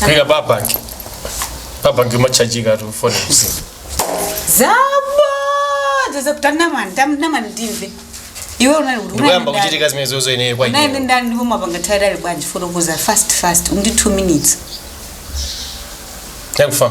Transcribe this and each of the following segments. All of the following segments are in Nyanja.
Kaya baba. Baba ngima charge ka tu phone usi. zabodza tamina mani timve iwe unali kuti ndipo kumachitika zimene zozo ine kwa ndani? Unali ine. ndani ndipo umapanga chani unali bwanji fotokoza fast fast uli ndi 2 minutes Thank you.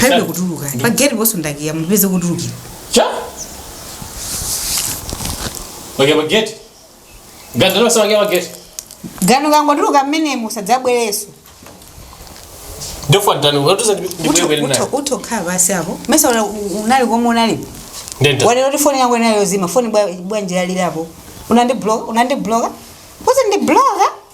palibe kutuluka pageti panonso ndakiya mupeze kutulukira kwake pageti. ukangotuluka mmenemo usadzabwereso utha kukhala pansi apo mesa una- unali komwe unali wanena kuti foni yangu inali yozima foni bwa- bwanjira lirapo unandi block unandi block kuti ndi block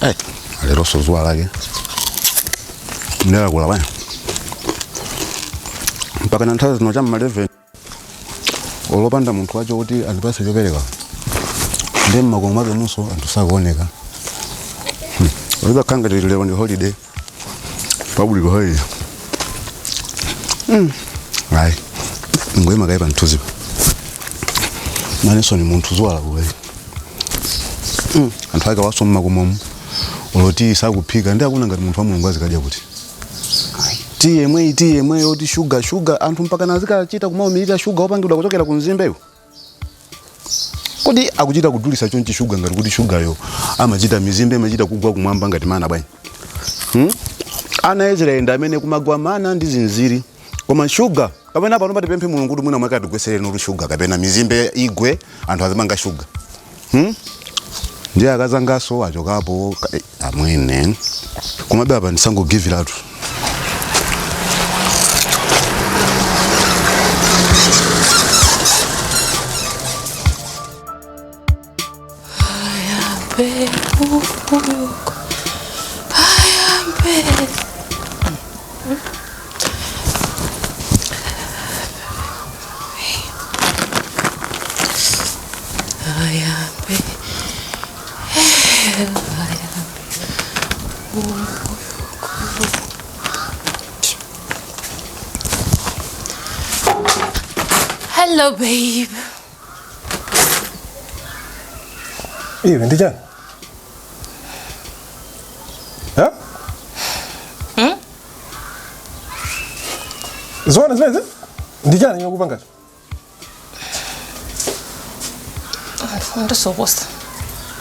Hey, lero so dzuwa lake lakula bwana mpaka nthawi zino cha mma 11 olopanda munthu wacho kuti andipatse chopereka ndi mmakomo mwake munso anthu sakuoneka Hmm. Mpaka kukhala ngati lero ndi holiday public holiday Mm. ndingoyima kaye pamthunzipa nanenso ndine munthu dziwani kuti anthu akewanso mmakomomo oloti sakuphika ndiye akuti ngati munthu wa mulungu azikadya kuti ti yemweyi ti yemweyi oti shuga shuga anthu mpaka nazikachita kumaumirira shuga wopangidwa kuchokera ku mizimbeyo kodi akuchita kudulisa chonchi shuga ngati kuti shugayo amachita mizimbe imachita kugwa kumwamba ngati mana bwanji hmm? ana a israeli ndi amene kumagwa mana ndi zinziri koma shuga kapena pano patipemphe mulungu kuti mwina mwake atigwetsere oti shuga kapena mizimbe igwe anthu azipanga shuga hmm? ndiye akazangaso achokapo ka- eh, amwene komabe apa ndisangogiva-tu Hello, babe. iwe ndi chani ha Hmm? zoona zimene zi- ndi chani chimene ukupangacho ndifuna ndisokose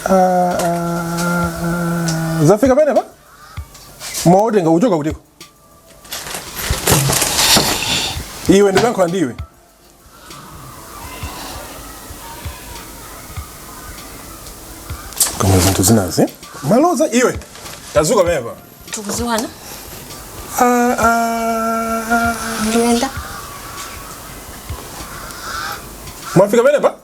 Ah, ah, zafika penepa mwaatenga kuchoka kutiko iwe ndikuyankhula ndi iwe koma zinthu zinazi malodza iwe tazuka pepa tikuziwana Ah, ah, ah. ndiyenda mwafika penepa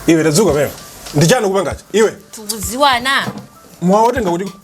iwe tadzuka pepa ndichani ukupangacho iwe tikuziwana mwawatenga kuti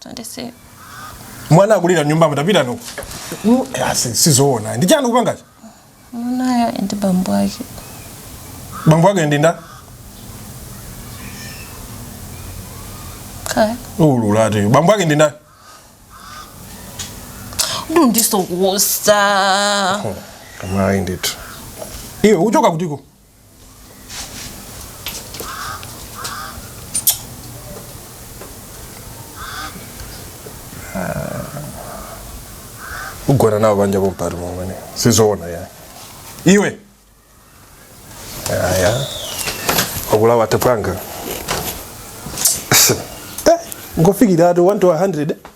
Tandise. mwana akulira mnyumba mutapita uko Mm, asi sizoona ndi chani ukupangacho Mwanayo ndi bambo ake. bambo ake ndi nda Kaya. ulula ati bambo ake ndi nda Udu ndisokosa. kamayi ndithu iwe uchoka kutiko ugona nawo banja bompari mumene sizoona ya iwe aya okulawa tepwanga Eh, ngofikira ati 1 to 100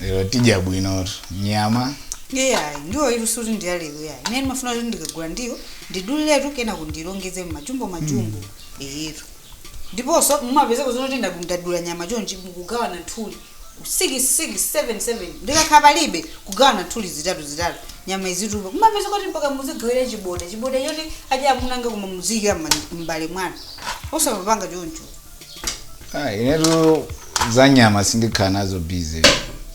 lero tidya bwinotu nyama iyayi ndiwo iyi sikuti ndiyalero yayi ine ndimafuna kuti ndikagula ndiwo ndiduliletu kenako ndilongeze mmajumbo majumbo eyetu ndiponso mumapezeko zonoti nda- ndadula nyama chonchi mukugawana nthuli 6677 ndi kukhala palibe kugawana nthuli zitatu zitatu nyama izitupa mumapeza kuti mpaka muzigawira chiboda chiboda choti adya amunanga koma muziyikira mma- m'mbale mwanu osapanga choncho Ah, inetu za nyama sindikhala nazo busy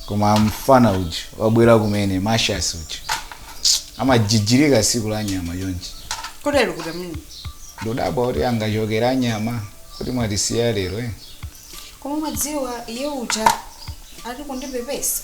koma mfana uja wabwera kumene mashas uja amajijirika siku la nyama chonchi kotero kuti amene ndikudabwa kuti angachokere nyama kuti mwatisiya lero eh? koma mwadziwa iye uja ali kundipepesa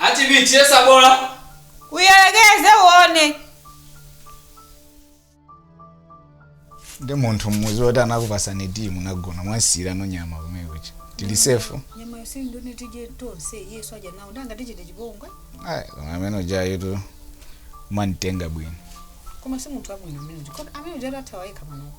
Ati tiyesa bola. Uyerekeze uone. Ndi munthu mmuzi woti anakupasani tiyi munagona mwamsiyira ino nyama kumene kucha. Tili safe. Nyama yose ndone tije tonse Yesu aja nawo ndanga tichite chipongwe. Ai, koma amene uja yetu mwamutenga bwino. Koma si munthu abwino amene uja. Kodi amene uja atathawa yekha panopo.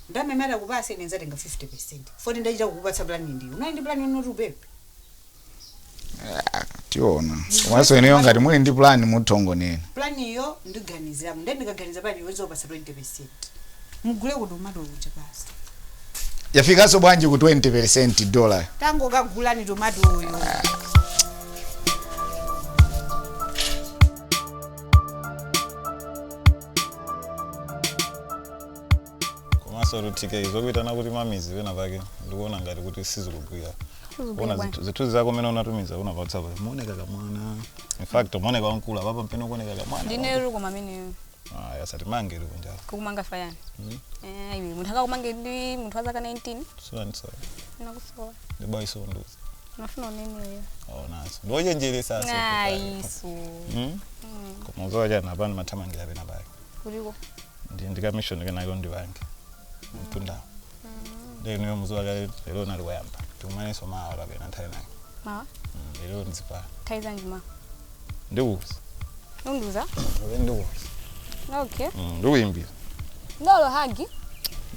Nde amene atakupatse ine nzatenga 50% poti ndachita kukupatsa plan ndiwe unali ndi plan yonena kuti ubebe? Ah, tiona komanso ineyo ngati muli ndi plan muthongonena Plan yo ndiganizirapo nde ndikaganiza plan iwe nzokupatsa 20%. Mugule tomato kuja basi. yafikanso bwanji ku 20% dollar Tangokagulani tomato uyu. komanso to take zokuyitana kuti ma Miss pena pake ndikuona ngati kuti sizikugwira zithu- zithunzi zako zimene unatumiza pa whatsapp mumaoneka kamwana in fact mumaoneka wamkulu apapa mpamene ukuoneka kamwana ndine ruko mameneyo ah yasati mange iri kunjala kukumanga fayani Eh, iwe munthu akakumange ndi munthu wa zaka 19 soni soni nakusowa ndibayi sonduzi mafuna uneneyo aonaso ndiwochenjeresa ayiso koma udziwa chani apani ndimathamangira pena pake kuliko ndi ndi kamishoni kenake undipange mtunda nde inuyo muziwa kale lero linali loyamba tikumanenso mawa kapena nthawi inake mawa Mm, lero mudzipita nthawi yanji mawa ndikuuza undiuza Lero ndikuuza okay Mm, ndikuyimbira ndolo hagi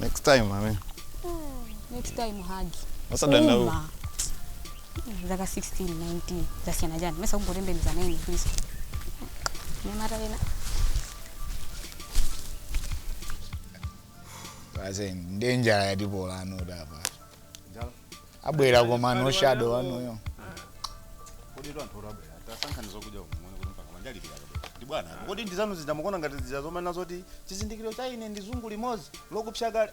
next time amene next time hagi osadandaula Uma. zaka 16 19 zasiyana chani mesa kungotembeneza six please nyamata ena Basi ndi njala yatipola ano apa. Abwera koma no shadow wanuyo. kodi tu anthu atabwera tasankhani zokudya kumene kuti mpaka manja alipira kabwera ndi bwana apo. kodi ndizanu ndidakuonani ngati zija zomanena zoti chizindikiro cha ine ndi zungu limodzi lokupsa kale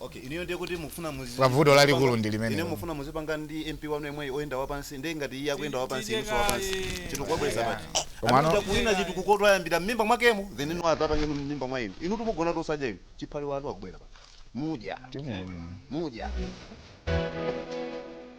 Okay, inuyo ndiye kuti mufuna muzi Pa vuto lalikulu ndi limenelo. Inu mufuna muzipanga ndi MP wanu yemweyu oyenda wapansi ndiye ngati iye akuyenda wapansi inunso wapansi. Chinthu kwabweza pati. Koma ano- Amene kuwina chinthu ku khoti ayambira mmimba mwakemo inu atatangenu mmimba mwa inu. Inu mumagona tosadya inu. Chipale wanu akubwera pati. Mudya. Mudya.